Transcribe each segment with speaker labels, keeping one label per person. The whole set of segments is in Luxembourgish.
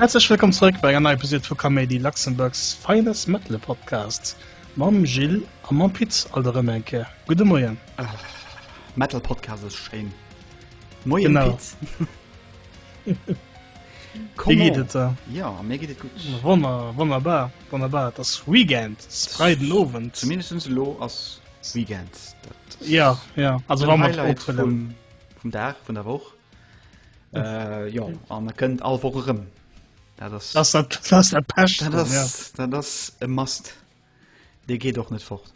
Speaker 1: Herzlich willkommen zurück bei einer Episode von Comedy Luxemburgs feines Metal Podcast. Mam Gilles am Mam Pitz all der Remenke. Gute Moien. Äh,
Speaker 2: Metal Podcast ist schön. Moien genau. Pitz.
Speaker 1: ja mir geht gut
Speaker 2: wonner wonnerbar
Speaker 1: wonnerbar das weekend freiden ofen zumindest lo als
Speaker 2: weekend dat ja
Speaker 1: ja also war mal leid von dem
Speaker 2: vom
Speaker 1: dach von
Speaker 2: der woch äh, ja an man könnt all wo rum da das das hat das der
Speaker 1: pest da das ja. da das
Speaker 2: e mast de geht doch net fort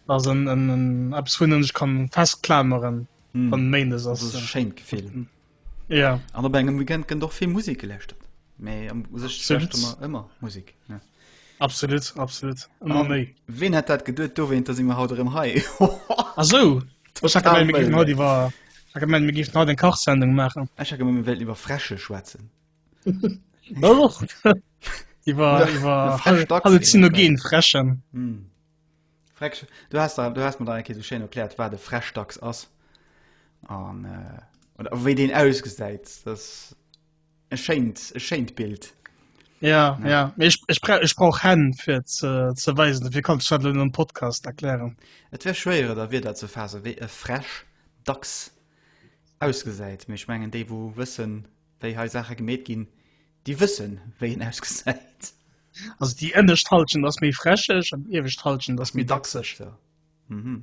Speaker 2: also
Speaker 1: en en ab hun ich kann festklameren Hm. Méindes ass e schéint Gefill.
Speaker 2: Ja.
Speaker 1: An op engem Weekend
Speaker 2: gënn och vill Musik geläscht. Mee am sech ëmmer ëmmer Musik. Ja. Absolut
Speaker 1: absolut ëmmer um, méi. Ween hat dat geduet
Speaker 2: do wéint, dat si mir haut erëm hei. Asou
Speaker 1: haut iwwer mir gift haut en Kachsendung machen. Ech ha mir Welt iwwer
Speaker 2: fresche schwätzen.
Speaker 1: Iwer iwwer Halluzinogen freschen. Mm.
Speaker 2: Frecksch, du has der, du has mer der eng Kéier esou schéin erkläert, wat e Frechdachs ass an äh, oder wéi deen ausgesäit. Das e schéint, e schéint Bild. Ja, ja. ja.
Speaker 1: Ech, ech, bra ech brauch Hänn fir ze, ze weisen, dofir kann ech dat net am Podcast erklären. Et wär schwéier
Speaker 2: der Wierder ze faasse wéi e Fresch dacks ausgesäit, mee ech mengen déi wou wëssen, wéi hei Saache gemeet ginn, Déi wëssen, wéi en ausgesäit. Also
Speaker 1: déi ënnescht Halschent ass méi fräscheg an déi iewescht Halschent ass méi dachseg. Mhm.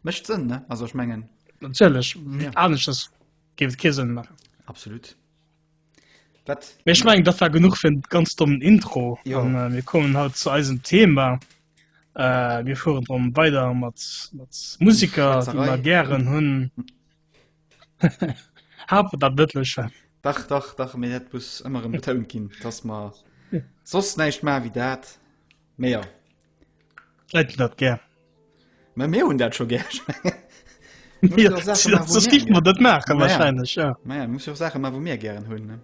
Speaker 2: Mécht Sënn, ne? Also ech mengen. Natierlech, wéi
Speaker 1: aneschters géif et kee Sënn maachen. Absolut.
Speaker 2: Dat. Mee ech mengen, dat war
Speaker 1: genuch fir en ganz dommen Intro. Jo. An mir kommen
Speaker 2: haut zu
Speaker 1: eisem Thema. Mir fueren erëm weider mat Musiker, déi mer gären hunn. Hafen dat net lëschen. Dach, dach, dach,
Speaker 2: mee dat muss ëmmer erëm betount ginn, dass mer soss näischt maache wéi dat. Mee jo.
Speaker 1: Leit hunn dat gär. Mä mir
Speaker 2: hunn dat scho gär.
Speaker 1: Mir hunn jo och Saache maache wou mir dat gär hunn. Mä ja, mir muss jo och Saache maache wou
Speaker 2: mir gären hunn.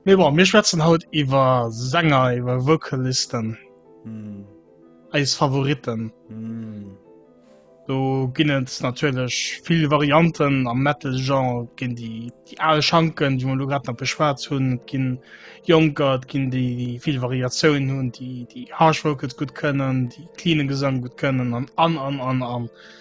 Speaker 1: Mee bon, mir schwätzen haut iwwer Sänger, iwwer Vocalisten. Mm. Eis Favoriten. Mm. Do ginn et natierlech vill Varianten am Metal-Genre, ginn déi déi al Schanken, déi mer lo grad nach beschwat hunn, ginn Jonker, ginn déi déi vill Variatiounen hunn, déi déi harsh Vocals gutt kënnen, déi cleane Gesang gutt kënnen an an an an an. an.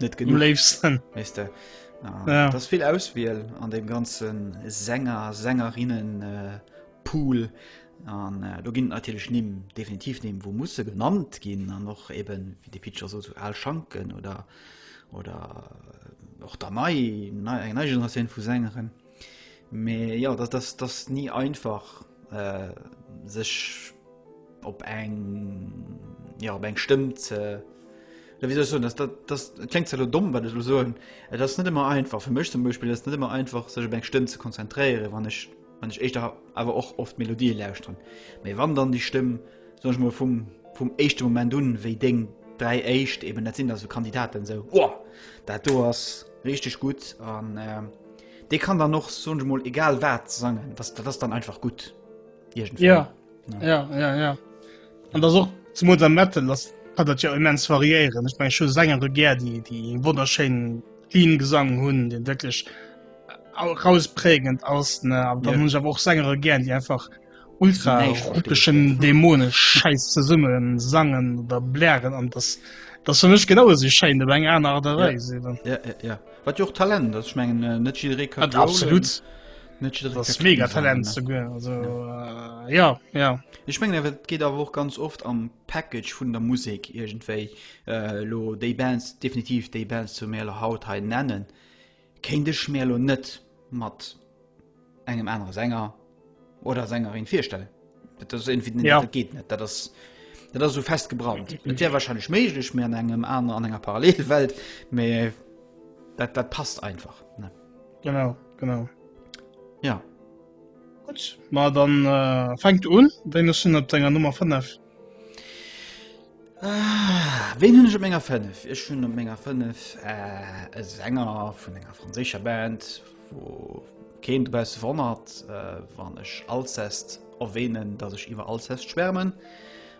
Speaker 2: net genug leefsten
Speaker 1: weißt
Speaker 2: du? Na, ja. das viel
Speaker 1: auswiel
Speaker 2: an dem ganzen Sänger Sängerinnen äh, pool an äh, du ginn natürlich ni definitiv nehmen wo muss genannt gehen an noch eben wie die Pitcher so zu all schanken oder oder äh, och der nei eng nei Generation vu Sängerin. Mee ja dat ass das nie einfach äh, sech op eng ja, op eng Stëmm ze wieso so das, das, das klingt so dumm weil du so das nicht immer einfach für mich zum Beispiel das nicht immer einfach sich beim Stimmen zu konzentrieren wann ich wann ich echt aber auch oft Melodie lausren mir wann dann die Stimmen die Soen ech mol vum vum éischte Moment un, wéi deng dräi éischt eben dat sinn da sou Kandidaten sou Woah! Dat do ass richteg gutt an dee kann dann och soen ech mol egal wat sangen, dass dat ass dann einfach gutt iergendwéi. Ja, ja,
Speaker 1: ja, ja. An dass och zemools am Metal, dass kann dat jo immens variéieren. Ech meng ech hu Sänger do gär, déi déi ee wonnerschéinen clean Gesang hunn, dee wierklech rausprägend ass ne, an dann hunn ech awer och Sängere gär, déi einfach ultraeroteschen dämonesch scheiß ze summen sangen oder blären an das das für mech genau se schein de eng an der Weise ja. Ja, ja, ja. wat
Speaker 2: jo Talent dat schmengen äh, net absolut mega Talent zu
Speaker 1: ja. also äh, ja ja ich meng
Speaker 2: er wird geht auch ganz oft am Package vun der Musik irgendwei äh, lo de Bands definitiv de Bands zu mehr haut he nennen Kéint ech mir elo net mat engem anere Sänger oder Sängerin virstellen. Dat ass irgendwie net, ja. dat geet net. Dat ass, dat ass so fest gebrannt. Et wär wahrscheinlich méiglech, mir an engem aner an enger Parallelwelt, mä dat, dat passt einfach. Ne? Genau,
Speaker 1: genau.
Speaker 2: Ja. Gut,
Speaker 1: ma dann äh, fängt un, wéi hun op denger Nummer 5? Ah,
Speaker 2: wen hunn ech op menger 5? Ech hunn op menger 5 äh, e Sänger vun enger franséischer Band, wou keen dobausse wonnert, äh, wann ech Alcest erwähnen, datt ech iwwer Alcest schwärmen.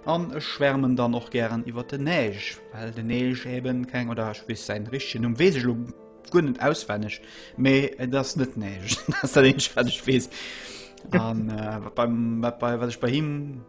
Speaker 2: An ech schwärmen dann och gären iwwer de Neige, well de Neige eben keng, oder ech weess säin richtegen Numm weess ech elo guer net auswenneg, mee et ass net Neige, dat ass dat eenzeg wat ech weess. An äh, wat beim, wat bei, wat ech bei him,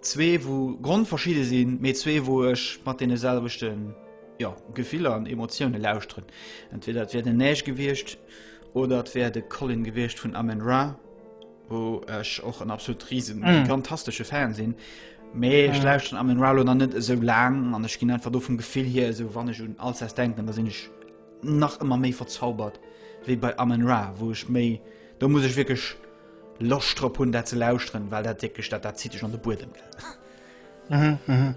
Speaker 2: Zwee wou grondverschidde sinn, mee zwee wou ech mat deene selwechten ja, Gefiller an Emotioune lauschteren. Entweder et wär den Neige gewiescht oder et wär de Colin gewiescht vun Amen Ra, wou ech och en absolut riesen mm. gigantastesche Fan sinn. Mee ech mm. lauschteren Amen Ra oder net esou laang an ech ginn einfach do vum Gefill hier esou wann ech un Alsace denken, da sinn ech nach ëmmer méi verzaubert wéi bei Amen Ra, wou ech méi do muss ech wirklich Loscht drop hunn dat ze lauschteren, well dat wierklech dat dat zitt dech an de Buedem gell. Mhm, mhm.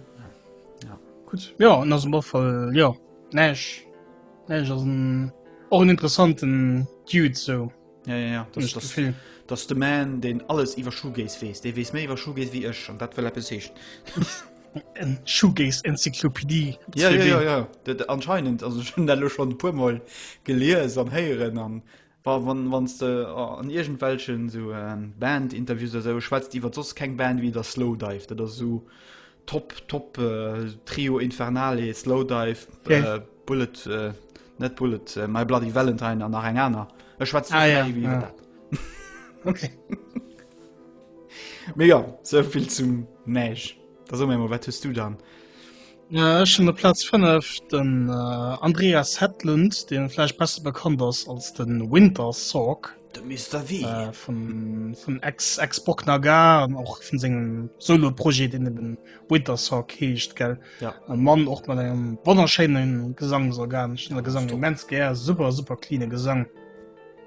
Speaker 1: Ja. Gutt. Jo an ass mat voll jo näisch näisch ass en och en interessanten Dude sou. Ja ja ja dat dat
Speaker 2: vill. Dat ass de Man deen alles iwwer Shoegaze weess. Dee weess méi iwwer Shoegaze wéi ech an dat wëll eppes heeschen. en
Speaker 1: Shoegaze Enzyklopädie. Ja ja ja ja
Speaker 2: dat anscheinend also ech hunn dat elo schonn e puermol gelies an héieren an Bon, wann, wanns de an iergendwelchen sou Band-Interviews oder sou schwätzt iwwer soss keng Band wéi der Slowdive, dat ass sou top, top äh, Trio Infernale, Slowdive, Okay. äh, Bullet, äh, net Bullet, äh, My Bloody Valentine an nach eng aner. Ech schwätzt Ah, ja, iwwer ja. dat. Okay. Mega, souvill zum Mäsch. Da so mir mal, wat hues du dann? Ech
Speaker 1: hunn op Platz 5 den Andreas Hedlund, dee vläicht besser bekannt ass als de Winter Sorg. De Mister Wee äh,
Speaker 2: vun vun
Speaker 1: Ex-Ex-Bock Nagar an och vun sengem Solo-Projet, deen eben Winter Sorg heescht, gell? Ja. E Mann och
Speaker 2: mat engem
Speaker 1: wonnerschéinen Gesangsorgan. Ech hunn de Gesang immens gär, super, super cleane Gesang.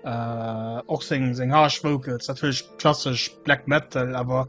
Speaker 1: Äh, och seng seng Harsh Vocals, natierlech klassesch Black Metal, awer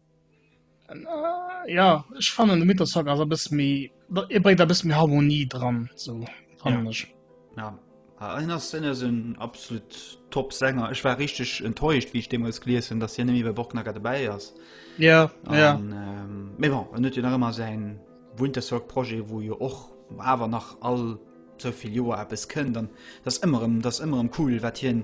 Speaker 1: Ja ech fannen de Mythoshock ass e bësse méi e bréit e bësse méi Harmonie dran so fannen ech. Ja. Ja,
Speaker 2: en ass en ass en absolut top Sänger. Ech war richtig enttäuscht, wie ich deemools gelies hunn, dass hien net méi bei Borknacker dabei ass. Ja, ja. An, ähm, mais bon, en huet jo nach ëmmer säin Wintersorg-Projet, wou jo och awer nach all souvill Joer eppes kënnt an dass ëmmer ëm dass ëmmer ëm cool wat hien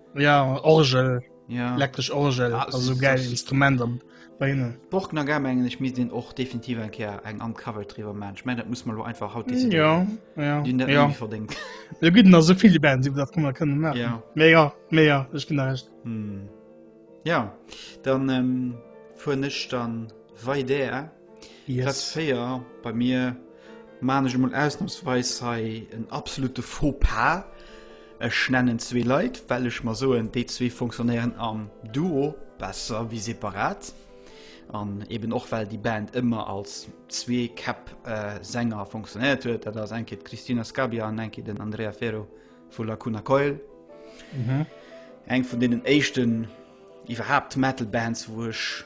Speaker 1: Ja Orgel ja. elektrisch
Speaker 2: Orgel ah,
Speaker 1: also geil
Speaker 2: Instrument
Speaker 1: am Beine. Borgner Game engen ich
Speaker 2: mis den och definitiv en Ker eng am Cover triwer man ich mein, dat muss man lo einfach haut mm, ja, ja,
Speaker 1: ja. verdingt.
Speaker 2: Ja, gut na
Speaker 1: so viele Band iw dat man können machen. ja. Me ja me
Speaker 2: ja ich
Speaker 1: bin recht. Hm.
Speaker 2: Ja dann ähm, fuhr nicht dann wei der. Äh? Yes. Platz 4 bei mir maan ech emol ausnahmsweis hei en absolute Faux-pas. Ech nennen zwee Leit, well ech mer soen, déi zwee funktionéieren am Duo besser wéi separat. An eben och well déi Band ëmmer als zwee Käpp äh, Sänger funktionéiert huet. Dat ass eng Kéier d'Cristina Scabbia an eng Kéier den Andrea Ferro vu Lacuna Coil. Eng vun deenen éischten iwwerhaapt Metal-Bands, wou ech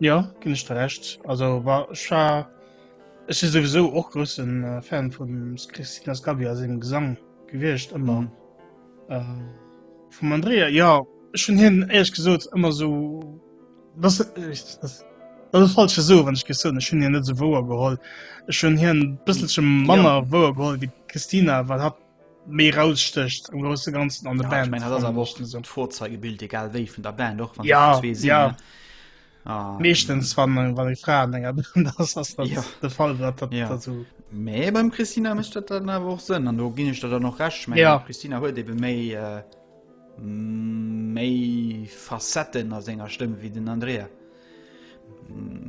Speaker 1: Jo, ginn ech der Recht. Also wa ech war ech si souwisou och groussen äh, Fan vum Christina Scabbia sengem Gesang gewiescht ëmmer. Mhm. Äh, vum Andrea, ja, ech hunn hien éierlech gesot ëmmer so das das dat ass falsch so, wann ech gesot ech hunn hien net so wouer geholl. Ech hunn hien bësselche manner wouer geholl wéi d'Christina, well hat méi rausstécht am grosse ganzen an der ja, Band ich mein, hat awer och so
Speaker 2: Vorzeigebild egal wéi vun der Band och ja, zwee sinn, ja. Ah,
Speaker 1: meeschtens ja. wann wann eng Fra enger das das ja. de Fall wat dat ja. dazu méi beim Christina
Speaker 2: mecht dat dann awer och sënn an do ginn ech dat dann noch recht ich mein, ja. Christina huet ebe méi äh, méi Facetten a senger Stëmm wie den Andrea.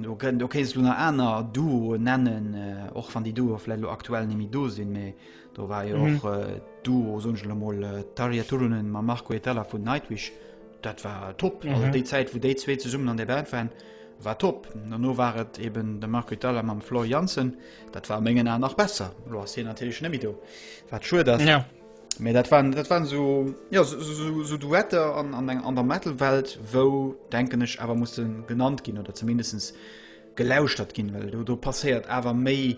Speaker 2: Du kënnt du kees du nach aner Duo nennen äh, och van déi Duo fllo aktuell nimi do sinn méi Do war jo och Duo songele moll Taria Turunen ma Marco Etala vun Nightwich. Dat war top. Also déi Zäit, wou déi zwee zesummen an der Band waren, war top. An no war et eben de Marco Etala mam Flor Jansen. Dat war a mengen Aen nach besser. Lo ass hien natierlech net méi do, wat schued ass. Mee dat waren, dat waren esou, jo, esou Duetter an der Metal-Welt, wou, denken ech, awer musse genannt ginn oder zumindest gelauschtert ginn, well do passéiert awer méi.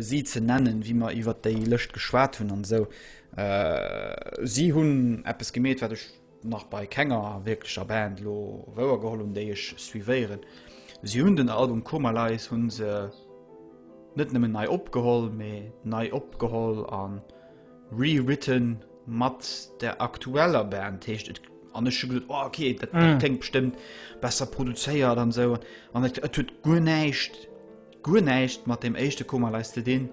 Speaker 2: si ze nennen, wéi mer iwwert déi Lëscht geschwat hunn an esou. Si hunn eppes gemeet, wat ech nach bei kenger wierklecher Band elo wouer geholl hunn, déi ech suivéieren. Si hunn den Album Koma Lies hu se net nëmmen nei opgeholl, mee nei opgeholl a rewritten mat der aktueller Band. Heescht et an ech hu gesot, oh, ok, dat kléngt bestëmmt besser produzéiert an esou. An et huet guer näischt guer näischt mat dem éischte Koma leis ze dinn.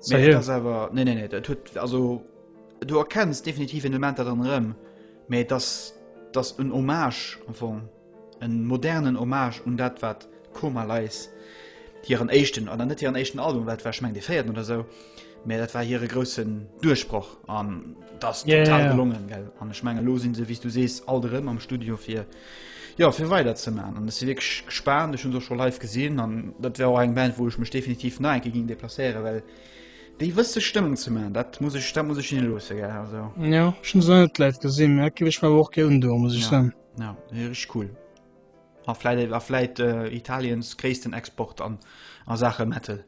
Speaker 2: Mee Seriö? dat ass awer nee nee nee dat huet also du erkenns definitiv en Element dat an rëm mee dass dass en Hommage am Fong en modernen Hommage un dat wat Koma leis hiren éischten an net hiren éischten Album wat war schmeng de féierten oder sou Mä dat war hire groussen Duerchbroch an dat ass total gelongen, gell? An ech menge lo sinn se, wéi s du sees, alt erëm am Studio fir, jo, fir weiderzeman. An ech si wierklech gespaant, ech hunn se och scho live gesinn an dat wär och eng Band, wou ech mech definitiv nach eng Kéier géing deplacéieren, well déi wësse Stëmmung ze man, dat muss ech, dat muss ech hinne loosse, gell? Also. Jo, ech hunn se nach net
Speaker 1: live gesinn, mä dat géif ech mer awer och gär undoen, muss ech soen. Jo, jo, jo, rich cool.
Speaker 2: A vläit, a vläit Italiens gréissten Export an a Saache Metal.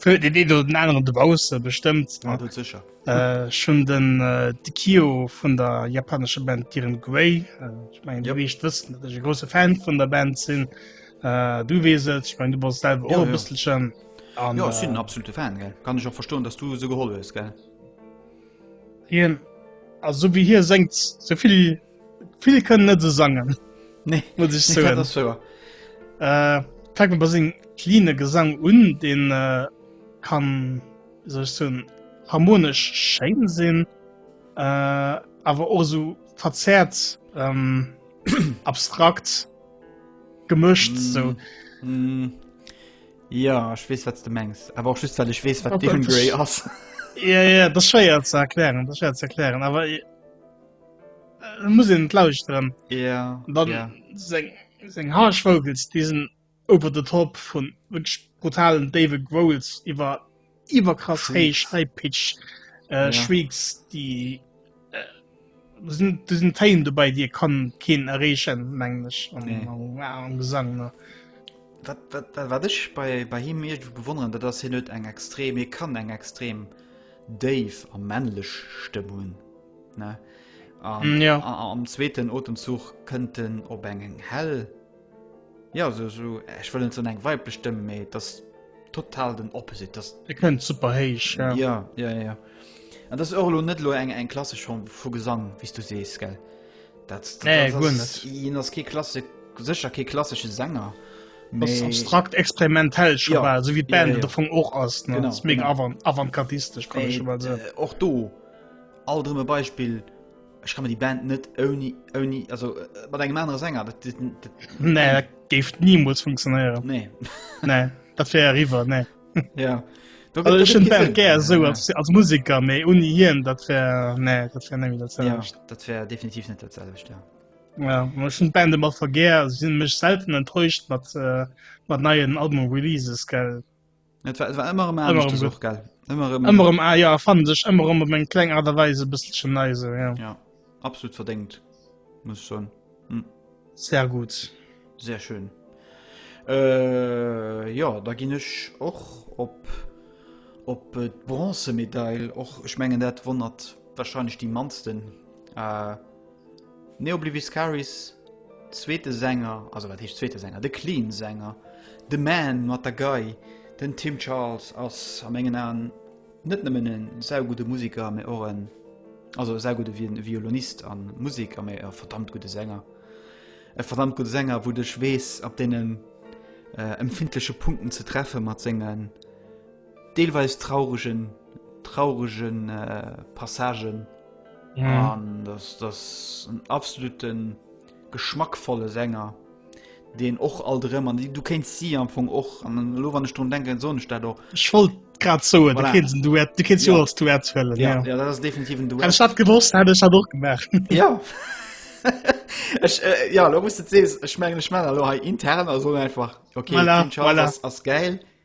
Speaker 1: Für den een oder den anderen de Bause bestëmmt ah, sicher äh,
Speaker 2: schon den
Speaker 1: äh, de Kio vun der japanesche Band Kiren Guei äh, ich mein, yep. ich wëssen dat ech große Fan vun der Band sinn äh, du weset ich mein, du bas selber ja, ja. bisschen an, ja, äh, absolute Fan
Speaker 2: gell? kann ich auch verstoen dass du se geholl hues gell
Speaker 1: Hien also wie hier sengt soviel Vill kënnen net esou sangen. Nee, muss ich
Speaker 2: soen. Das
Speaker 1: war.
Speaker 2: Äh,
Speaker 1: fängt man bei sing cleane Gesang un, den äh, kann sech so harmonisch schein sinn, äh, awer och so verzerrt ähm, abstrakt gemëscht mm. so. Mm.
Speaker 2: Ja ich wees wat du mengs, aber auch just weil ich wees wat Gray ass. Ja, ja, das
Speaker 1: schwer zu erklären, das schwer zu erklären, aber. Ich, muss en lauschteren ja dann ja. seng
Speaker 2: seng harsch
Speaker 1: vogels diesen ober de top vun wënsch brutalen dave growls iwwer iwwer krass heich high pitch äh,
Speaker 2: ja.
Speaker 1: schwegs
Speaker 2: die
Speaker 1: äh, sind diesen tein dabei dir kann keen errechen mengglisch an nee. wow,
Speaker 2: gesang ne
Speaker 1: wat wat
Speaker 2: wat wat ech bei bei him mir bewonneren dat das hin net eng extrem hier kann eng extrem dave am männlech stemmungen ne an
Speaker 1: ja am zweeten
Speaker 2: otemzuch könnten op engen hell ja so so ich will so eng weib bestimmen me das total den opposite das ihr könnt super heisch,
Speaker 1: ja. ja ja ja
Speaker 2: an das orlo net lo eng eng klasse schon vor gesang wie du sest gell das, das, nee,
Speaker 1: das, das, das, das klasse
Speaker 2: sicher ke klassische sänger das
Speaker 1: abstrakt experimentell ja. war so wie band ja, ja. davon och as mega avant avantgardistisch
Speaker 2: kann ich
Speaker 1: mal so och äh, du
Speaker 2: Alt erëm e Beispill, ech ka mer déi Band net ouni, ouni, also äh, mat engem anere Sänger, dat, dat, dat Nee,
Speaker 1: dat géif niemols funktionéieren. nee.
Speaker 2: Nee, dat
Speaker 1: wär eriwwer, nee. ja.
Speaker 2: Da Also gëtt- da ech gëtt hun kein Band Sinn. gär
Speaker 1: esou Ja.
Speaker 2: als, als
Speaker 1: Musiker,
Speaker 2: méi
Speaker 1: uni hien, dat wär, nee, dat wär nemmi dat Ja, selwecht. dat wär
Speaker 2: definitiv net dat selwecht, ja. Ja, ma ech hun Band ëmmer
Speaker 1: vergär, also sinn mech selten enttäuscht mat, äh, mat neien Album-Releases, gell. Et war, et war ëmmer
Speaker 2: ëmmer ëmmer so geil
Speaker 1: ëmmer
Speaker 2: ëmmer um Eier ah, fan
Speaker 1: sech ëmmer ëmmer meng kleng Art der Weise bësselchen neise ja. ja absolut
Speaker 2: verdekt muss schon hm. sehr
Speaker 1: gut sehr schön
Speaker 2: äh, ja da gin ech och op op äh, bronzemedail och ich mengen dat wonnert wahrscheinlich die mansten äh, Neobliviscaris zweete Sänger, also wat heescht zweete Sänger, de Clean Sänger, de Man mat der Gei, den Tim Charles ass a mengen Aen net nëmmen e saugudde Museker, mä och en, also e saugudde Violonist a Museker, mä e verdammt gudde Sänger. E verdammt gudde Sänger, wou dech weess op deenen empfindleche Punkten ze treffe mat sengen, Deelweis trauregen trauregen Passagen an dass das en absoluten geschmackvolle Sänger den och all drëm an du kenst si am vung och an den lo wann ech run denken so staat och schwol grad
Speaker 1: zo du
Speaker 2: kenst jo als
Speaker 1: du erzwellen ja dat ass definitiv
Speaker 2: du hast dat gewosst hat ech
Speaker 1: hat
Speaker 2: och
Speaker 1: gemacht ja
Speaker 2: ech äh, ja lo muss se ech mengen ech mal lo intern also einfach okay voilà, voilà. ass
Speaker 1: geil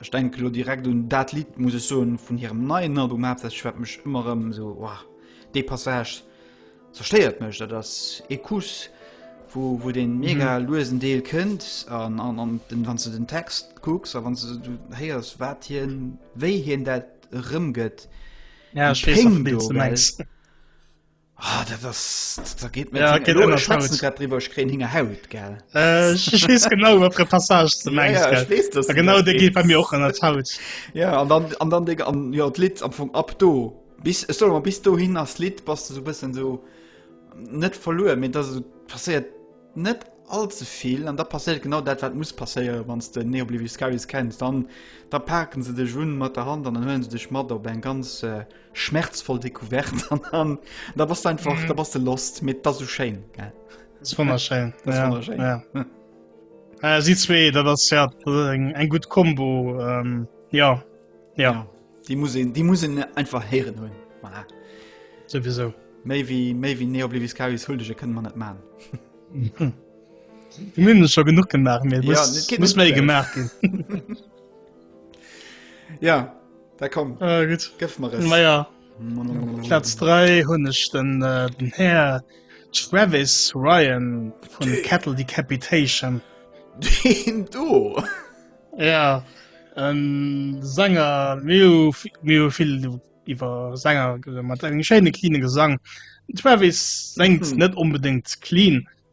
Speaker 2: Ech denke lo direkt un dat Lied muss ech soen vun hirem neien Album haaptsächlech wat mech ëmmer ëm so oh, dee Passage zerstéiert mech, dat ass ee Kuss wo, wo den mhm. mega mhm. luesen Deel kënnt an, an, an den, wann du den Text kucks a wann du, du héiers wat hien wéi hien dat rëm
Speaker 1: gëtt
Speaker 2: ja, Ah, dat ass dat da geet mir Ja, geet ëmmer schwätzen falsch.
Speaker 1: grad driwwer ech kréien
Speaker 2: hinger Haut gell Äh, ich, ich wees
Speaker 1: genau wat der Passage ze mengs ja, ich wees dass du genau dat de
Speaker 2: geet bei meinst. mir och
Speaker 1: an
Speaker 2: der
Speaker 1: Haut. Ja an dann an
Speaker 2: dann Digga an jo d'Lidd am Fong ab do bis ech soll mal bis dohin ass d'Lidd bass du so bëssen so net verluer mee dat passéiert net allze vill an da passéiert genau dat wat muss passéiere wanns de Neo Oblivious Skyris kenns dann da paken se dech un mat der Hand an dann huelen se dech mat op eng ganz äh, Schmerzvoll Découverte an dann da bass du einfach mhm. da bass du lost mit da so schéin ja. wunderschön
Speaker 1: das ja,
Speaker 2: wunderschön.
Speaker 1: Ja. Hm. Äh, sie zwee dat ass ja eng eng gut Kombo ähm, ja. ja ja
Speaker 2: die muss die muss einfach heieren hunn voilà. sowieso
Speaker 1: méi wie
Speaker 2: méi wie neo bliwis ka hull dege kënne man net man
Speaker 1: hm. Mün schon genug gemacht ja, muss
Speaker 2: méi gemacht gin ja Da komm, ah, gut. gëff mer es.
Speaker 1: Naja, Platz 3 hunn ech den, äh, den Herr Travis Ryan von Die. Cattle Decapitation. Den
Speaker 2: do. Ja,
Speaker 1: en Sänger, mir mir vill iwwer Sänger mat engem schéine cleane Gesang. Travis sengt mhm. net unbedingt clean,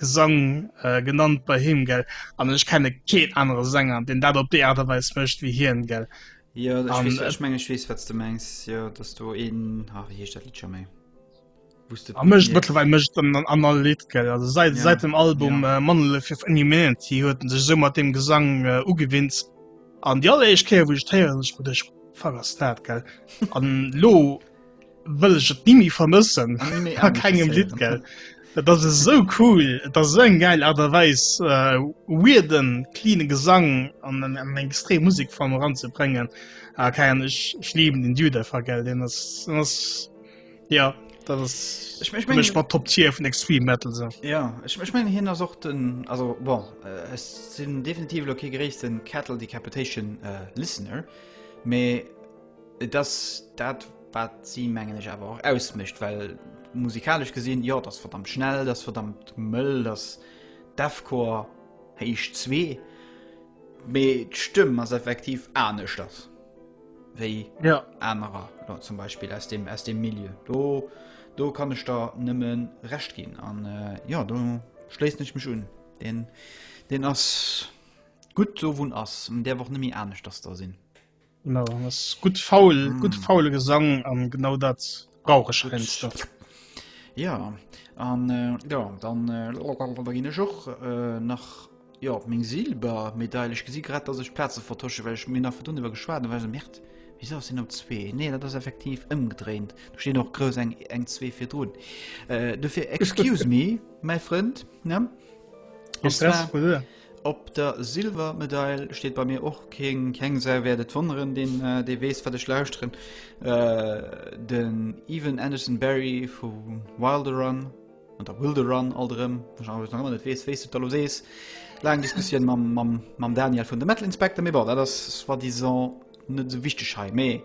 Speaker 1: Gesang genannt bei him gell an ech kenne keen anere Sänger deen dat op déi Aart a Weis mécht wéi hien gell. Jo ech weess,
Speaker 2: ech menge ech weess
Speaker 1: wat s de
Speaker 2: mengs, jo et ass do een, ah wéi heescht dat Lidd scho méi. A mécht mëttlerweil mécht
Speaker 1: en dann an all Lidd gell, also säit säit dem Album Monolith of
Speaker 2: Inhumanity
Speaker 1: huet en sech esou mat deem Gesang ugewinnt an déi alleréischt Kéier wou ech et héieren, ech krut ech, fuck ass dat gell an lo. wëll ech et ni méi vermëssen a kengem Lidd gell. Dat ass esou cool, Et ass esou eng geil Aart a Weis äh, weirden, cleane Gesang an an eng extrem Musekform eranzebréngen. Ah, keine Ahnung, ech, ech lieben den Dude einfach, gell. Den ass, den ass, ja, dat ass Ich mein, ich für mein, mech mat Top
Speaker 2: Tier vun Extreme
Speaker 1: Metal so. ja, ich, ich mein, hien
Speaker 2: ass och den, also bon, äh, ech sinn definitiv elo kee gréissten Cattle Decapitation äh, Listener, mee Et ass dat, wat si, mengen ech, awer och ausmécht, well musikalesch gesinn, jo, dat ass verdammt schnell, dat ass verdammt mëll, dat ass Deathcore héich zwee, mee d'Stëmm ass effektiv aneschters wéi anerer,
Speaker 1: zum
Speaker 2: Beispill aus dem Milieu. Do kann ech der nëmmen Recht ginn an jo, do schléissen ech mech un. Deen ass gutt esou, wou en ass, an däerf och net méi aneschters da sinn. No ass
Speaker 1: gutt faul mm. gutt faule Gesang an genau dat brauch ech Fenster. Ja
Speaker 2: an äh, ja dann äh, ginn ech och äh, nach Jo op meng Silber medailech gesi grad ass ech Plaze vertosche, wellch mir nach verdun iwwer geschwaden well se Mäert. Wie ass sinn op zwee? Nee, dat ass effektiv ëmgedréint. Du steen och grous eng eng zwee fir Drun. Äh, du fir excuse me, mäi Frënd ne? Op der Silvermedail steet bei mir och keen, keng Sau wäert et wonneren, deen dee weess wat ech lauschteren, den Evan Anderson Barry vu Wilderun, oder Wilderun alt erëm, wou ech nach ëmmer net weess wéi s du et da elo sees, laang Diskussioun mam mam mam Daniel vun de Metal Inspector, mee bon dat ass soit disant net esou wichteg hei, mee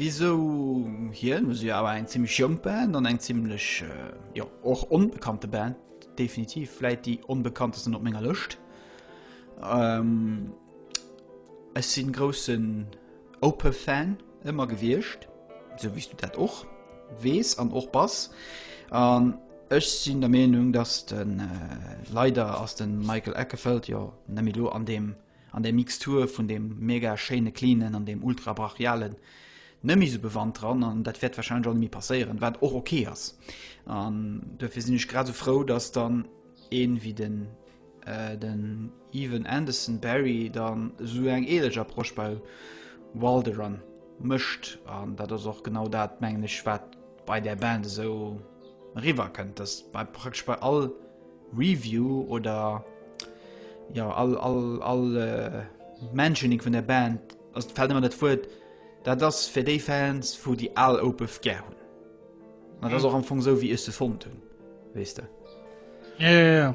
Speaker 2: wisou hien, hu si jo awer eng zimmlech jonk Band an eng zimmlech jo och onbekannte Band. definitiv vläit déi onbekanntesten op menger Lëscht. Ähm, ech sinn groussen Opeth-Fan ëmmer gewiescht, sou wéi s du dat och weess an och bass. An ech sinn der Meenung, datt den äh, leider ass den Michael Eckefeld jo nemmi lo an deem An där Mixtur vun deem mega schéine Cleanen an deem ultra brachialen Nëmme sou bewannt dran, an dat wäert wahrscheinlech och net méi passéieren, wat och ok ass. An duerfir sinn ech grad sou frou, dass dann ee wéi den den Evan Anderson Barry dann sou eng ähnlech Approche bei Walderon mécht, an dat ass och genau dat, mengen ech, wat bei der Band esou riwwer kënnt, dass bei praktesch bei all Review oder ja all, all, all äh, Mentioning vun der Band ass fällt immer dat Wuert, dat ass fir déi Fans, wo déi al Opeth gär hunn. Dat ass mhm. och am Fong sou, wéi ech se fonnt hunn, wees du. Ja, ja, ja.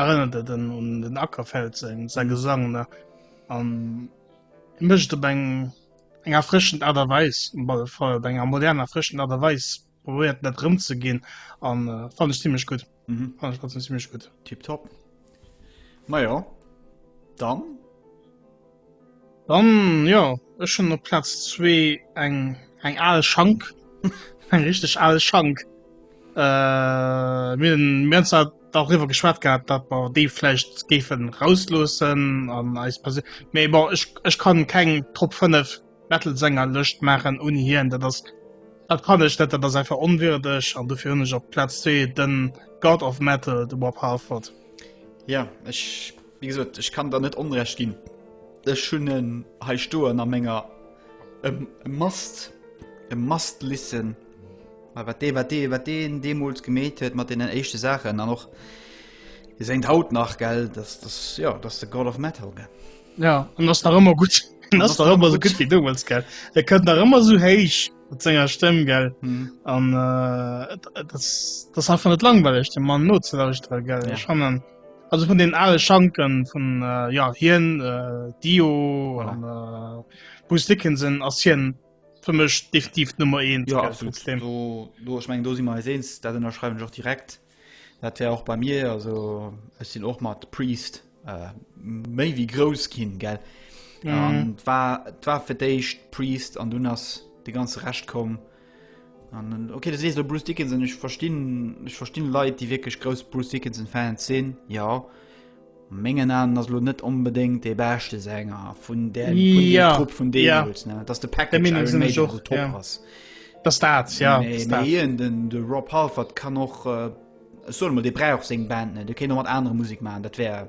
Speaker 1: Erënnert et en un den Ackerfeld seng sein Gesang ne? An e mécht op eng eng erfrëschend Aart a Weis um Ball Fall op enger modern erfrëschend Aart a Weis probéiert net rëmzeginn an äh, fand ech ziemlech gut. Mhm. Fand ech trotzdem ziemlech gut. Tipptopp.
Speaker 2: Majo, dann
Speaker 1: Dann, jo, ech hunn op Plaz zwee eng, eng al Schank. Eng richteg al Schank. Mir hunn zwar dariwwer geschwat gehat, datt mer déi vläicht géifen rausloossen an eis Persou-, mee bon, ech, ech kann keng Top 5 Metal-Sänger-Lëscht maachen ouni hien. Dat ass, dat kann ech net, dat ass einfach onwierdeg an dofir hunn ech op Plaz zwee de God of Metal, de Rob Halford. Jo,
Speaker 2: ech Wéi gesot, ech kann der net Onrecht ginn. Ech hunn en hei stoen a menger e must, e must listen. Mä wat dee, wat dee, wat deen deemools gemeet huet mat deenen éischte Saachen an och dee séngt haut nach, gell, dass, dass, jo, dass de God of Metal, gell. Ja, an ass nach
Speaker 1: ëmmer gutt. En ass nach ëmmer esou gutt wéi deemools, gell. E kënnt nach ëmmer esou héich mat senger Stëmm, gell. An et ass einfach net langweileg deem Mann nozelauschteren, gell. Ech fannen.
Speaker 2: Also vun
Speaker 1: den ale Schanken vun äh, ja, hien äh, Dio voilà. an äh,
Speaker 2: Bruce Dickinson
Speaker 1: ass hien fir mech definitiv Nummer 1 ja, absolut. Do,
Speaker 2: do, ich mein, do si mar eens dat ënnerschreiwen joch direkt. Dat wär och bei mir also ech sinn och mat Priest äh, méi wie grouss kinn gell. Mm. war, war fir d'éischt Priest an dunn ass de ganze recht kom. Äh, An, okay, du sees lo Bruce Dickinson, ich verstinn, ich verstinn Leit, déi wirklich groß Bruce Dickinson Fans sinn, ja. Mengen an ass lo net unbedingt de beste Sänger vun der vun dem Ja, Trupp vun ja. deemools, ne? Dass de Der Package Meinung Iron sinn ech Maiden so och, top ja. ass. Das dat,
Speaker 1: ja. Nee, Das mee dat. hien, den, de
Speaker 2: Rob Halford kann och, äh, ech soen emol, dee brauch seng Band net, dee kéint och mat anere Musik maachen, dat wär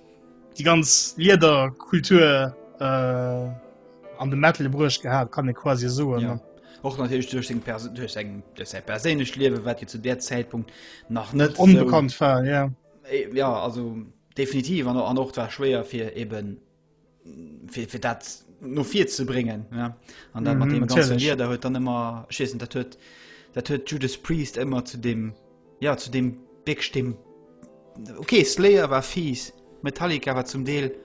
Speaker 1: die ganz Lieder Kultur äh, an de Metal brusch gehabt kann ich quasi so ja. och natürlich
Speaker 2: durch den Pers durch sein, durch sein persönlich Leben wat zu der Zeitpunkt nach net unbekannt so, war ja. Äh,
Speaker 1: ja also
Speaker 2: definitiv an, an auch war schwer für eben fir, fir dat no vir ze bringen ja. an dann mm -hmm, mat dem Lider huet dann immer schiessen dat huet dat huet Judas Priest immer zu dem ja zu dem Big stimmen okay Slayer war fies Metallica war zum Deel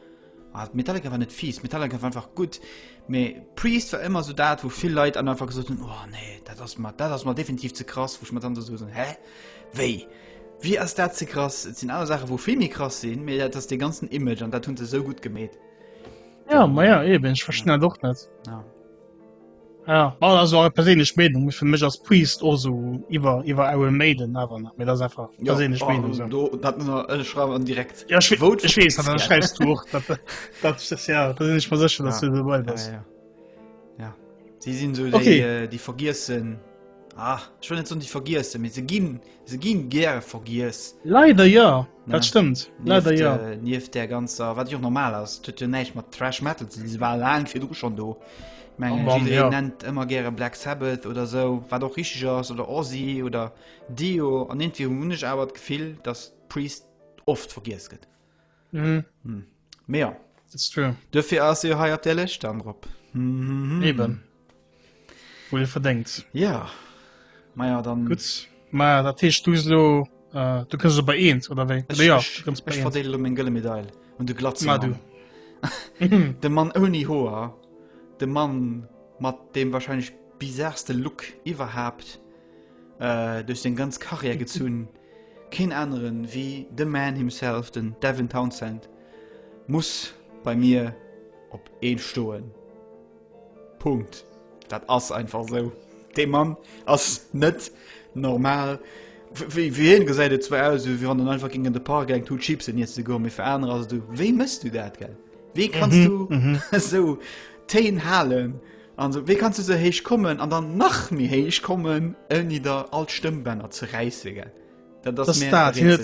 Speaker 2: ah, Metallica war net fies Metallica war einfach gut me Priest war immer so dat wo viel Lei an einfach gesucht oh, nee dat das mal dat das mal definitiv ze krass woch man dann so hä Wéi? Wéi ass dat ze krass? Et sinn aner Saache wou vill méi krass sinn, mee dat ass dee ganzen Image an dat hunn se sou gutt gemeet. Ja,
Speaker 1: ma ja, eben, ich verstehe ja. doch net. Ja. Ja, war also eure perséinlech Meinung fir mech ass Priest o so iwwer iwwer ewe Maiden awer nach mir das einfach ja, perséinlech oh, Meinung so. do, dat ëlle schreiwen
Speaker 2: an direkt ja, ich, Vote ich wees dat
Speaker 1: schreist du dat, dat, das, ja dat sinn ich mal secher dat ja. du dabei bist ja, ja. ja.
Speaker 2: sie
Speaker 1: sinn so okay.
Speaker 2: déi, äh,
Speaker 1: déi
Speaker 2: vergiessen Ah, ech wëll net soen déi vergiessen, mee se ginn, se ginn gäre vergiess. Leider ja, Ja.
Speaker 1: dat stëmmt. Leider Nieft, ja. äh, nieft der ganzer,
Speaker 2: wat jo normal ass, tut jo näicht mat Trash Metal, ze si war laang fir du schon do. Ich Am mein, Mann, jiddereen ja.
Speaker 1: nennt ëmmer gäre
Speaker 2: Black Sabbath oder so, wat och richtig ass, oder Ozzy oder Dio, an irgendwie hunn ech awer d'Gefill, dass Priest oft vergiess gëtt.
Speaker 1: Mm. Hm. Mehr.
Speaker 2: That's true.
Speaker 1: Dafür ass ihr hei op der
Speaker 2: Lëscht dann drop. Mm -hmm. Eben.
Speaker 1: Wo ihr verdenkt. Ja.
Speaker 2: Maja, dann. Gut. Ma, dat
Speaker 1: heescht du lo, äh, du kënns bei eent, oder wéi? Ech, ja, ech, ech verdeele meng gëlle Medail.
Speaker 2: Und du glatze Ma, du. de Mann ouni Hoer, de Mann mat dem wahrscheinlich bizarste Look iwwerhaapt. duerch seng ganz Karriär gezunn, keen aneren ewéi the man himself, den Devin Townsend muss bei mir op 1 stoen. Punkt. Dat ass einfach esou. Dee Mann ass net normal. Wéi hien gesäit et zwar aus, wéi wann en einfach géing an de Park gaangen d'Hut Chipsen iesse goen, mee fir anerer ass et esou, wéi mëss du dat, gell? Wéi kanns du esou Téin halen, An esou, wéi kanns du esou héich kommen an dann nach méi héich kommen, ouni der all d'Stëmmbänner ze räisse, gell? Dat ass mir
Speaker 1: dat hin.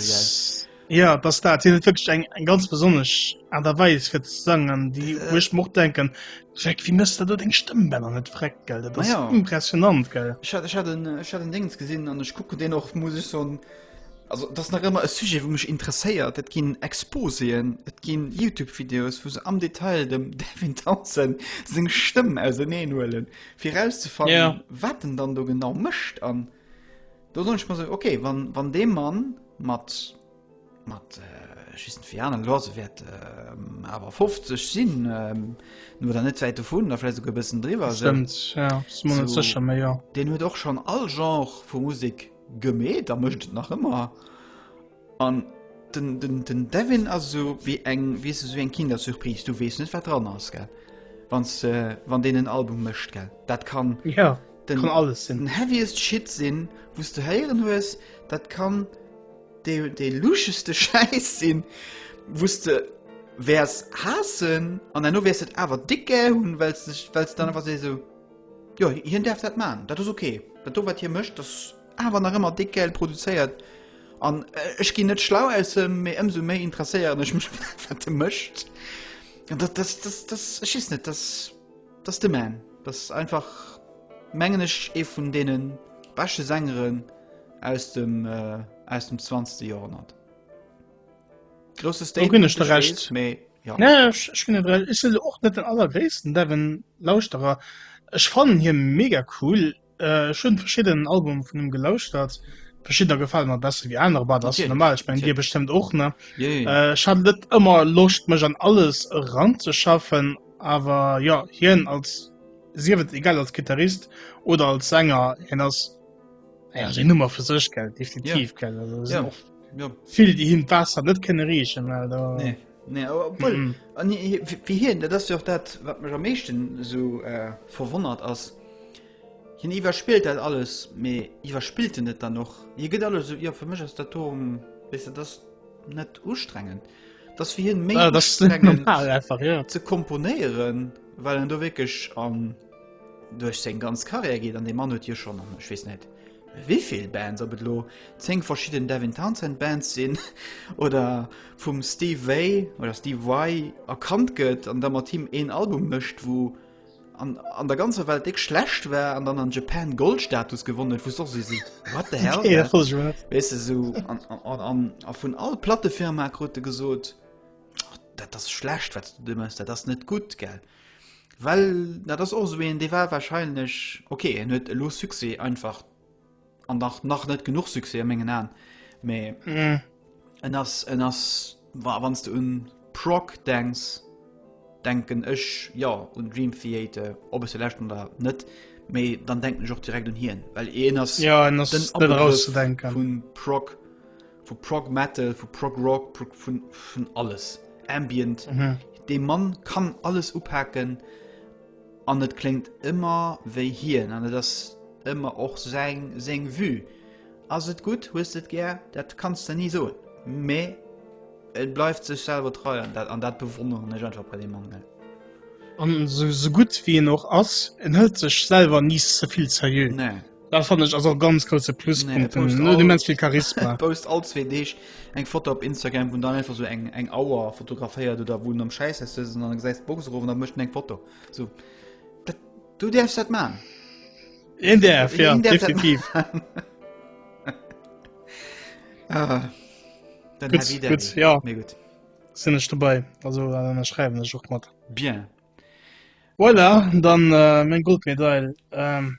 Speaker 1: Ja dass dat hin wëcht eng eng ganz besonnech an der Weis fir ze sang an déi huech äh. mo denken Jack wie mësst dat eng Stëmmbänner net freck gel dat ja. impressionant
Speaker 2: gell. Ech
Speaker 1: hat ech hat
Speaker 2: den Dings gesinn an ech kucke den och muss ich son Also dat ass nach ëmmer e Sujet wou mech interesséiert. Et ginn Exposéen, et gi Youtube Videos wou se am Detail dem Devin Townsend seng Stëmm auserneen huelen fir erauszefannen yeah. wat den dann
Speaker 1: do genau
Speaker 2: mëscht an do soll ech mal so okay wann, wann dee Mann mat mat äh, schiessen fir an Lose wäert ähm, awer 50 sinn ähm, nur der net wäit vun derlä go bëssen driwer
Speaker 1: Den huet och schon all
Speaker 2: Genre vu Musik Gemeet a mécht et nach ëmmer. An den, den, den Devin ass esou wéi eng, weess esou wéi eng Kindersurprise. Du weess net, wat dran ass, gell? Wann s, äh, wann deen en Album mécht, gell? Dat kann. Ja. Den, kann
Speaker 1: alles sinn. Den heaviest Shit
Speaker 2: sinn, wou s de héieren hues. Dat kann dee, dee luscheste Schäiss sinn, wou s de wäers haassen an herno wäers et awer déck gär hunn, well s, well s dann awer esou. Jo, hien däerf dat man, dat ass ok. Dat do wat hie mécht ass awer nach ëmmer déck gäil produzéiert. An ech ginn net schlau aus em, mee ëmsou méi interesséieren ech mech wat e mécht. An dat dat dat dat ech weess net, dat dat ass de man. Dat ass einfach mengen ech ee vun deene beschte Sängeren aus dem aus dem 20 Joerhonnert. Grosse Statement. Ginn ech de Recht.
Speaker 1: Méi ja. Nee,
Speaker 2: ich, ich ginn de
Speaker 1: Recht. Ich sinn och net den allergréissten Devon Lauschterer. Ech fannen hie mega cool. Äh, ich hunn verschidden Album vun him gelauschtert. Verschiddener gefallen mer besser wie aner, aber das ist normal. Ich mein, dir bestimmt och ne. Yeah, yeah. Äh, ich hat net ëmmer Loscht mech an alles ranzeschaffen, awer ja hien als siewet egal als Gitarrist oder als Sänger hin ass ja, den Nummer vu sech gel definitiv ja. gel
Speaker 2: also, ja. ja. viel die hin Wasser
Speaker 1: net kennen riechen weil da nee. Nee,
Speaker 2: aber, mm -mm. An, wie, wie hier das ja auch dat wat mir am mechten so äh, verwonnert as hin iwwerspielt dat alles me iwwerspielte net dann noch je get alles so ihr ja, für michch als Datum wis das net ustrengend dass wir hin ja, das einfach
Speaker 1: ja. ze komponieren
Speaker 2: weil du wirklich an ähm, Duerch seng ganz Karriär geet, an dee Mann huet jo schonn, an ech weess net wivill Bands, ob et elo 10 verschidden Devin Townsend Bands sinn oder vum Steve Vai oder Steve Vai erkannt gëtt, an da mat him een Album mécht, wou an, an der ganzer Welt déck schlecht war, an dann an Japan Goldstatus gewonnen huet, wou soss si what the hell ja, wees
Speaker 1: du, so,
Speaker 2: an, an, an, a vun all Plattefirma krut de gesot, oh, dat ass schlecht wat du de mëss, dat ass net gutt gell. Well dat ass och sou een, dee war wahrscheinlech ok, en huet elo Succès einfach an nach nach net genug Succès a mengen Aen, mä mm. en ass en ass wa wann du un Proc denks, denken ech ja un Dream Theater, ob es selächt oder net, méi dann denken ech och direkt un hien, well een ass ja, en ass
Speaker 1: net erauszudenken vun Proc
Speaker 2: Vu Prog Metal, vu Prog Rock, Prog, vun, vun alles. Ambient. Mhm. De Mann kann alles upaken an et klingt ëmmer wéi hien an et ass ëmmer och seng seng Vue. Ass et gut, hues et gär, dat kannst du nie soen. Mä et bleift sech selwer treu an dat, an dat bewonneren ech einfach bei dem Mann. Gell? an
Speaker 1: so, so gut wie en och ass en hëlt
Speaker 2: sech
Speaker 1: selwer ni ze vill serieux Nee. Da fand ich also ganz große Pluspunkte nee, nur die Menschen viel
Speaker 2: Charisma
Speaker 1: post all zwei Deeg
Speaker 2: eng Foto op Instagram vun dann einfach so eng eng Auer fotograféiert oder wun am Scheiß an se Boxrufen der mcht eng Foto so dat, du derfst dat man In
Speaker 1: der ja, definitiv
Speaker 2: ah,
Speaker 1: gut, gut, ja.
Speaker 2: gut. Sin ich dabei
Speaker 1: also äh, schreiben ich auch mal bien
Speaker 2: voilà
Speaker 1: dann äh, mein Goldmedail ähm,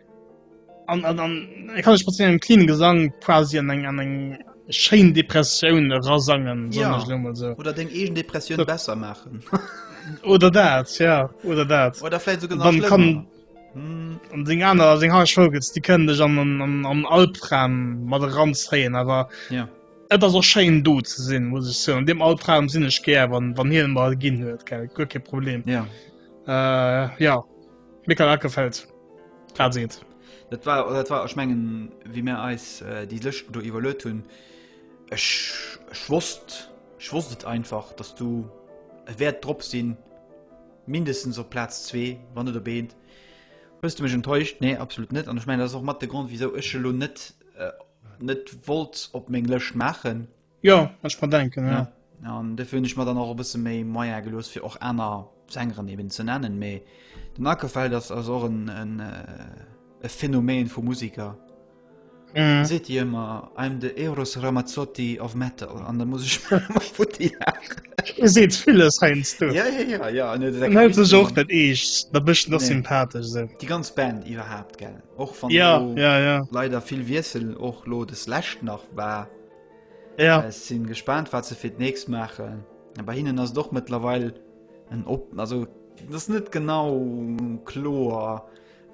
Speaker 1: an an e kann ech mat engem clean gesang quasi an eng an eng schein depressioun rasangen ja. so.
Speaker 2: oder den egen
Speaker 1: depression
Speaker 2: so. besser machen oder
Speaker 1: dat ja oder dat oder vielleicht sogar dann kann
Speaker 2: hm. an den an se
Speaker 1: ha schogels die können dech an an an an alpram mat ran zeien aber ja Et ass
Speaker 2: och schein
Speaker 1: do ze sinn muss ich so an dem altraum sinn ech ger wann wann hi mal ginn huet ke gu problem ja
Speaker 2: äh,
Speaker 1: ja Michael Ackerfeld dat seet. Dat war
Speaker 2: dat war ech mengen wie mir eis äh, déi Lëscht do iwwerlöt hunn ech schwosst schwosst et einfach dass du e Wäert drop sinn mindestens op Platz zwee wann net op eent hues du mech enttäuscht nee absolut net an ech mein ass och mat de Grund wieso ech lo net äh, net wollt op meng Lëscht maachen Jo ech mat
Speaker 1: denken ja. An defir hunn ech mat
Speaker 2: dann och e bësse méi Meier gelooss fir och aner Sängeren eben ze nennen, méi den Ackerfeld ass ass och en en äh, e Phänomen vu Musiker. Mm. Seet Dir ëmmer I'm de Eros Ramazzotti of Metal an da muss ech futti lachen.
Speaker 1: E seet villes heiansdo. du. Ja, ja, ja, ja. an dat En
Speaker 2: hält sech och dat
Speaker 1: eescht, da bëscht noch Nee. sympathesch se. Déi
Speaker 2: ganz
Speaker 1: Band iwwerhaapt
Speaker 2: gell. Och wann Ja, do ja, ja.
Speaker 1: leider
Speaker 2: vill
Speaker 1: Wiessel
Speaker 2: och lo des Lächt nach war Ja.
Speaker 1: Äh, sinn gespannt
Speaker 2: wat ze fir d nächst machen. Bei hinnen ass doch mëttlerweil en op also das net genau kloer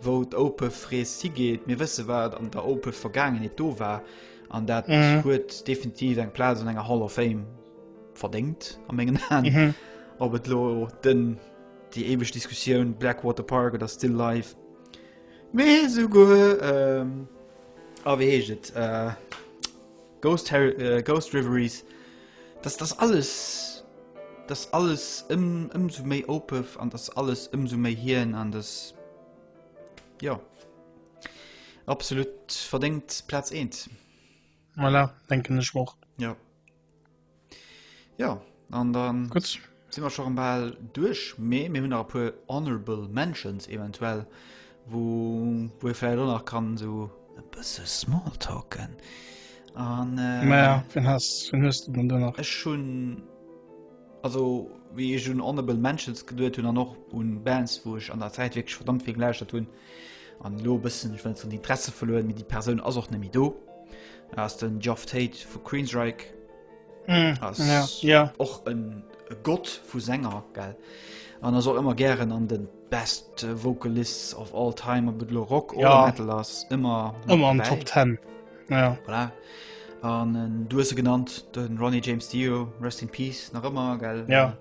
Speaker 2: wou d' Ope frees si geet. Mir wësse wat an der Ope vergangen et do war an dat huet mhm. definitiv eng Pla an enger Hall of Fame verdekt am engen Hand. Mhm. Ob et lo den die eweg Diskussion Blackwater Park oder still live. Mee sougu. Ähm, Oh, wéi heescht et? Uh, Ghost, uh, Ghost Reveries. Dass das alles. Dass alles ëm, ëmso méi opef an dass alles ëmso méi hien an das. Ja. Absolut verdéngt Platz 1. Voilà,
Speaker 1: denken ech och. Ja.
Speaker 2: Ja, an dann Gut. sinn wir schon
Speaker 1: bal
Speaker 2: duerch, mee mir hunn nach e puer Honorable Mentions eventuell, wo wo ee vläicht och nach kann so e bësse Smalltalken. An äh, Ma ja, wen
Speaker 1: hast, wen hues du dann do nach? Ech hunn
Speaker 2: also wéi ech un Honorable Mentions geduet hunn an och un Bands, wou ech an der Zäit wierklech verdammt vill gelauschtert hunn, An elo e bëssen, ech well net soen Interesse verluer, mee déi Persoun ass och net méi do. Ass den Geoff Tate vu Queensryche mm, ass ja, ja.
Speaker 1: och en
Speaker 2: Gott vu Sänger gell. An ass och ëmmer gären an den best Vocalists of all time op et lo Rock oder ja. Metal ass ëmmer ëmmer an Top 10. Ja.
Speaker 1: Voilà.
Speaker 2: An äh, du se genannt den Ronnie James Dio Rest in Peace nach ëmmer gell. Ja.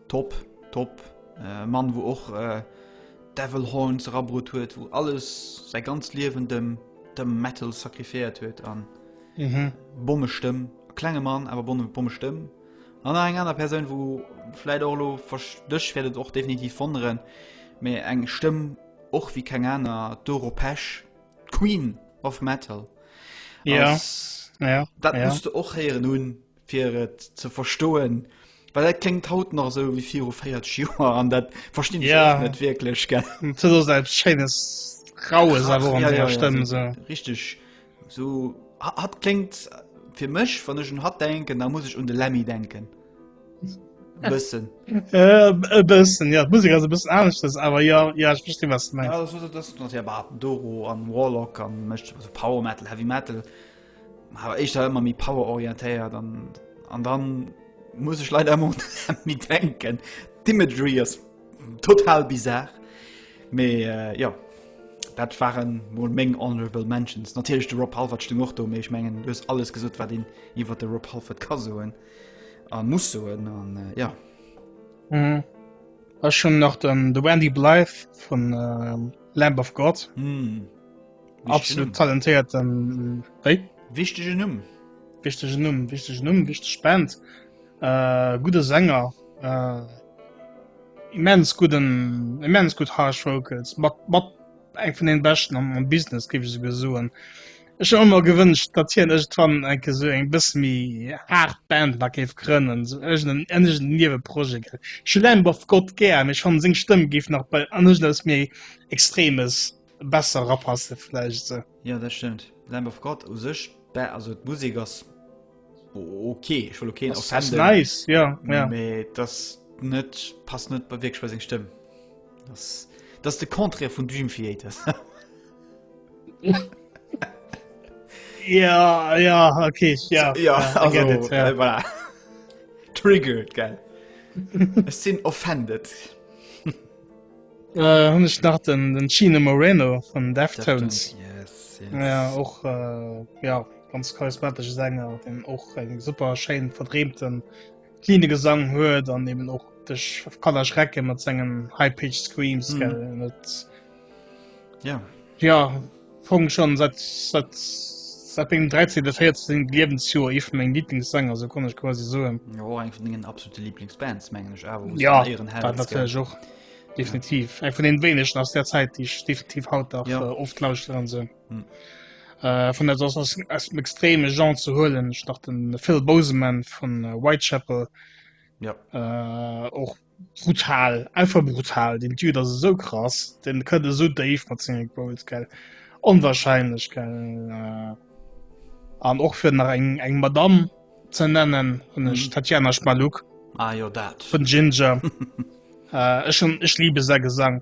Speaker 1: Top,
Speaker 2: top äh, Mann wo och äh, Devil Horns erabrut huet, wou alles säi ganz Liewen dem dem Metal sakrifiéiert huet an mhm. Bomme Stëmm klenge Mann awer bonne Bomme Stëmm an eng aner Persoun, wou fläit och lo verstëch werdet och definitiv vonnneren mé eng Stëmm och wie keng aner d'Euro Pech Queen of Metal. Ja. Als,
Speaker 1: ja,
Speaker 2: dat ja. musste
Speaker 1: och
Speaker 2: heieren
Speaker 1: hunn
Speaker 2: fir et ze verstoen, well dat klingt haut nach so wie viru 40 Joer an dat verstinn ich ja. net wirklich gell. Scheines
Speaker 1: raues Krass, awer an ja, denger ja, Stëmm so. so. Richtig
Speaker 2: so hat klingt fir mech wann ech un hat denken, da muss ich un de Lemmy denken. Bëssen. Äh,
Speaker 1: e bëssen ja Musik as e bëssen aneschtes, awer ja ja ich verste was du meinst. Ja, das, das, das, das, ja,
Speaker 2: Doro an Warlock an Power Metal, Heavy Metal. Awer éischter ëmmer méi power-orientéiert an an dann muss ech leider ëmmer un den Hemmi denken. D'Imagery ass total bizarr, mee jo, dat waren mol meng honorable mentions. Natierlech de Rob Halford stung och do, mee ech mengen du hues alles gesot wat een iwwert de Rob Halford ka soen a muss soen an jo.
Speaker 1: Ech hunn nach den The Wendy Blythe vun Lamb of God. Absolut talentéiert ähm, wéi?
Speaker 2: Wichtege Numm. Wichtege Numm, wichtege Numm, wichteg
Speaker 1: Band. Äh, gute Sänger. Äh, immens guten, immens gut Harsh Vocals. Mat, mat eng vun den Beschten am, am Business, gebe ich sogar soen. Ich habe immer gewünscht, dass hier irgendwann ein so ein bisschen mehr hart Band nach gäbe können, so irgendein ähnliches Nebenprojekt. Ich habe Lamb of God gern, ich fand seine Stimme gibt nach bei anders als mir extremes besser rapasse vielleicht so. ja das stimmt
Speaker 2: Lamb of God u sech also Musik ass okay ich will okay das, das nice ja,
Speaker 1: ja. Me, das
Speaker 2: net passt net bei wirklich bei seg Stimme das das de Konträr vun Dream Theater
Speaker 1: ja ja okay ja, so, ja, ja, also, it, ja.
Speaker 2: Äh, voilà. triggered ge sinn offended.
Speaker 1: Äh, hun ech nach den, den Chino Moreno von Deftones. Yes, yes. Ja,
Speaker 2: och,
Speaker 1: äh, ja, ganz charismatische Sänger, den och eng super schein verdreemten, cleane Gesang huet, an eben och dech kann erschrecken mat sengen High-Pitched Screams, mm. gell, net. Ja. Ja. Fong schon seit seit seit mengem 13 14 Liewensjoer ee vun meng Lieblingssänger se konn ech quasi soen. Jo eng vun dingen absolute
Speaker 2: Lieblingsbands mengen ech awer Ja ieren
Speaker 1: Hell dat natierlech och definitiv eng vun den wéinegen aus der Zäit déi ech definitiv haut dach Ja. äh, oft lauschteren an se Hm. äh, vun der ass ass aus dem extreme Genre ze huelen ech nach den Phil Boseman vun äh, Whitechapel Ja. äh, och brutal einfach brutal den Typ das so krass den könnte so Dave geil onwahrscheinlich geil an och fir nach eng eng Madame ze nennen hun ech mhm. Tatjana Schmaluk ah, ja, dat vun Ginger äh, schon ech liebe se gesang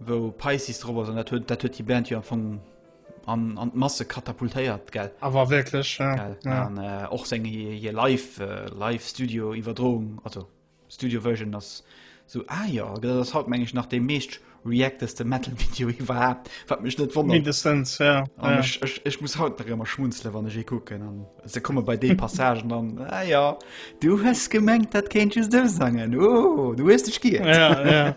Speaker 2: Wou Pisces drop ass, an dat huet dat huet déi Band jo am Fong an an d'Masse katapultéiert, gell? Awer wierklech, ja.
Speaker 1: Gell? Ja. An äh, och
Speaker 2: seng hir, hir Live, äh, Live Studio Iwwerdroung, also Studio Version ass so ah ja, dat ass haut meng ech nach dee meescht reacteste Metal Video iwwerhaapt, wat mech net wonnert. Mindestens, ja.
Speaker 1: An ja. ech, ech,
Speaker 2: ech muss haut nach ëmmer schmunzele wann ech ee kucken an se komme bei dee Passagen an ah ja, du hues gemengt dat kéint just du sangen, oh, du hues dech giert. Ja, ja.